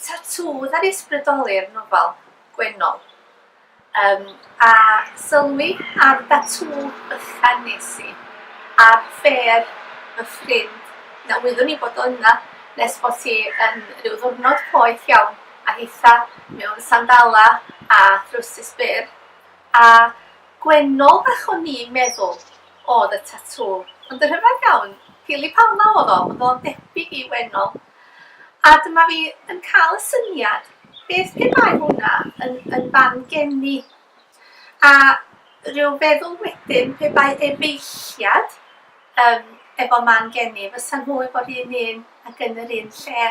Tatŵ ar ysbrydoli'r nofel Gwennol. Yym, a sylwi ar ddatŵ bychan nes i, ar ffêr fy ffrind, na wyddwn i bod o yna, nes bod hi yn ryw ddiwrnod poeth iawn, a hitha mewn sandalau a throwsus byr, a Gwennol fach o'n i'n meddwl o'dd y tatŵ, ond y rhyfedd iawn, Phili Palma o'dd o, o'dd o'n debyg i Wennol. A dyma fi yn cael y syniad, beth pe bai hwnna yn yn fan geni? A ryw feddwl wedyn pe bai efeilliad yym efo man geni, fysa nhw efo'r un un ac yn yr un lle.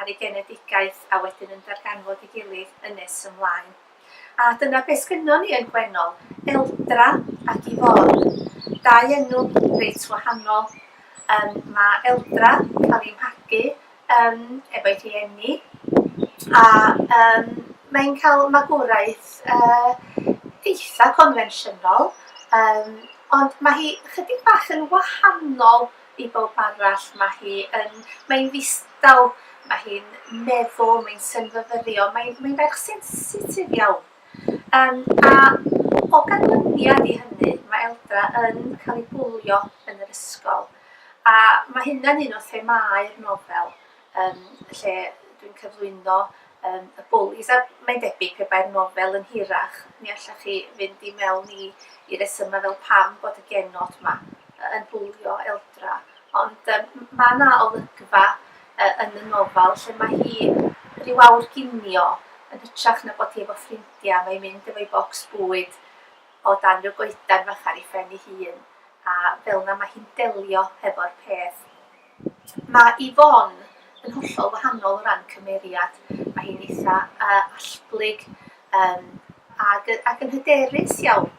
ar ei genedigaeth a wedyn yn darganfod ei gilydd yn nes ymlaen. A dyna beth sgynnon ni yn Gwennol, Eldra ac Yvonne. Dau enw reit wahanol. Um, mae Eldra cael ei mhagu um, efo'i rhieni a um, mae'n cael magwraeth uh, eitha confensiynol, um, ond mae hi chydig bach yn wahanol i bawb arall, mae hi yn... mae hi'n ddistaw, mae hi'n meddwl, mae hi'n synfyfyrio, mae hi'n mae hi ferch sensitif iawn. Um, a o ganlyniad i hynny, mae Eldra yn cael ei bwlio yn yr ysgol. A mae hynna'n un o themâu'r nofel, um, lle dwi'n cyflwyno um, y bwlis. A mae'n debyg pe bai'r nofel yn hirach, mi allach chi fynd i mewn i, i resymau fel pam bod y genod yma yn bwlio eldra. Ond um, mae yna olygfa uh, yn y nofel lle mae hi rhyw awr ginio yn hytrach na bod hi efo ffrindiau, mae'n mynd efo'i bocs bwyd o dan rhyw goedan fach ar ei phen ei hun, a fel yna mae hi'n delio hefo'r peth. Mae Yvonne yn hollol wahanol o ran cymeriad. Mae hi'n eitha yy allblyg yym ac yy ac yn hyderus iawn.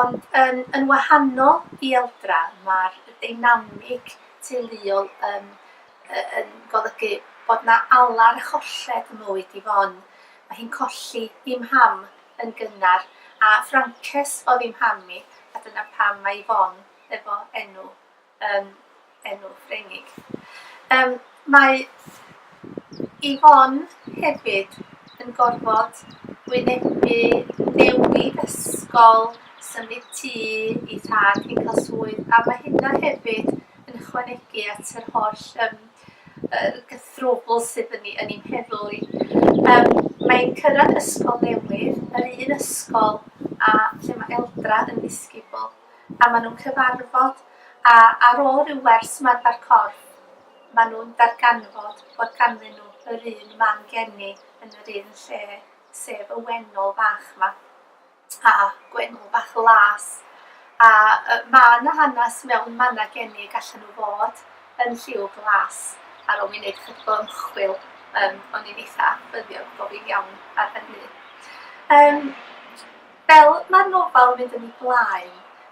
Ond yn yn wahanol i Eldra, mae'r deinamig teuluol yn yy yn golygu bod 'na alar a cholled ym mywyd Yvonne. Mae hi'n colli ei mham yn gynnar, a Ffrancés oedd ei mham hi, a dyna pam mae Yvonne efo enw. um, enw Ffrengig. Um, mae Yvonne hefyd yn gorfod wynebu newid ysgol, symud tŷ i thad hi'n cael swydd, a mae hynna hefyd yn ychwanegu at yr holl um, er gythrwbl sydd yn, yn ein heddlu. Um, mae'n cyrraedd ysgol newydd, yr un ysgol a lle mae Eldra yn ddisgybl. a maen nhw'n cyfarfod a ar ôl rhyw wers ymarfer corff maen nhw'n darganfod bod ganddyn nhw yr un mam geni yn yr un lle sef y wennol fach 'ma a gwennol bach las a yy ma' 'na hanes mewn manna geni y gallan nhw fod yn lliw glas ar ôl mi wneud chydig o ymchwil yym o'n i'n eitha ffyddiog bo' fi'n iawn ar hynny. Yym. Fel mae'r nofel yn mynd yn ei blaen,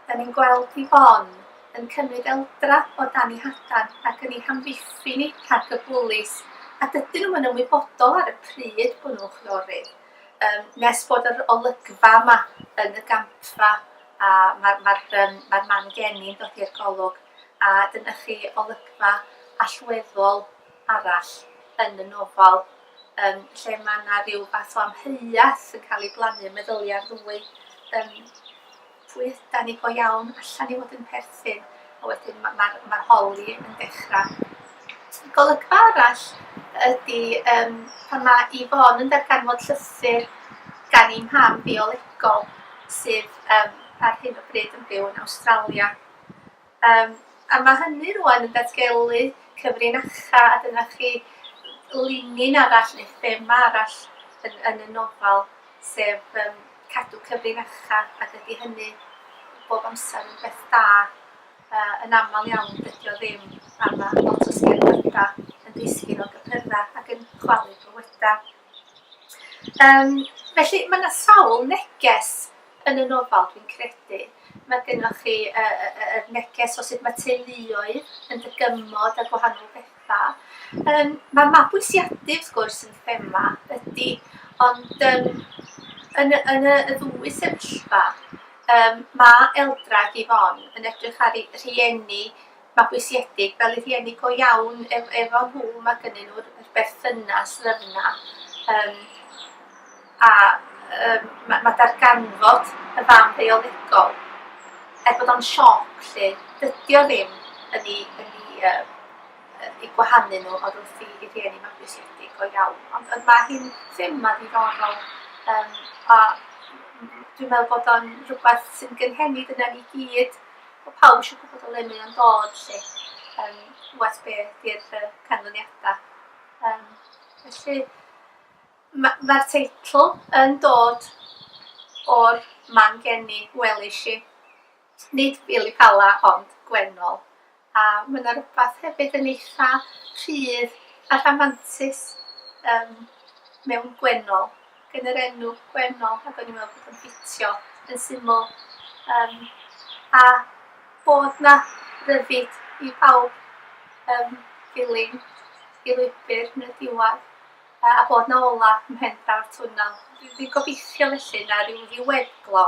dan ni'n gweld Yvonne yn cymryd eldra o dan ei hadan ac yn ei hamddiffyn hi rhag y bwlis, a dydyn nhw'm yn ymwybodol ar y pryd bod nhw'n chwiorydd, yym, nes bod yr olygfa yma yn y gampfa a mae'r mae'r yym mae'r man geni'n dod i'r golwg a dyna chi olygfa allweddol arall yn y nofel yym lle mae 'na ryw fath o amheuaeth yn cael ei blannu yn meddylia ar ddwy yym pwy ydan ni go iawn allan i fod yn perthyn a wedyn mae'r ma, ma, ma holi yn dechrau. Golygfa arall ydy um, pan mae Yvonne yn darganfod llythyr gan ei mam biolegol sydd um, ar hyn o bryd yn byw yn Awstralia. Yym a ma' hynny rŵan yn datgelu cyfrinacha a dyna chi linyn arall neu thema arall yn yn y nofel sef yym cadw cyfrinacha a dydi hynny bob amser yn beth da yy yn aml iawn dydi o ddim a ma' lot o sgerdada yn disgyn o gypyrddau ac yn chwalu bywydau. Yym, felly, mae 'na sawl neges yn y nofel, dwi'n credu. Mae gennoch chi y y y yr neges o sut mae teuluoedd yn dygymod â gwahanol betha. Yym, mae mabwysiadu, wrth gwrs, yn thema, ydi, ond yym yn y yn y y ddwy sefyllfa, yym, ma' Eldra ac Yvonne yn edrych ar eu rhieni mabwysiedig fel y rhieni go iawn ef- efo nhw, mae gynnyn nhw'r yr berthynas lyfn 'na yym a yym ma' ma' darganfod y fam biolegol er bod o'n sioc 'lly dydi o ddim yn 'u yn 'u yym yy eu gwahanu nhw odwrthi eu rhieni mabwysiedig go iawn ond ond ma' hi'n thema ddiddorol yym a m- m- dwi'n meddwl bod o'n rwbeth sy'n gynhenid yna ni gyd. Mae pawb eisiau gwybod o le mae o'n dod 'lly, yym wers be 'di'r yy canlyniada. Yym felly ma' ma'r teitl yn dod o'r man geni welish i, nid Pili Pala ond Gwennol. A ma' 'na rwbath hefyd yn eitha rhydd a rhamantus yym mewn gwennol, gan yr enw gwennol, ac o'n i'n meddwl bod o'n ffitio yn syml. Yym a bod 'na ryddid i bawb yym dilyn y lwybr yn y diwedd a bod 'na ola ym mhen draw'r twnnel. Dwi dwi'n gobeithio felly na ryw ddiweddglo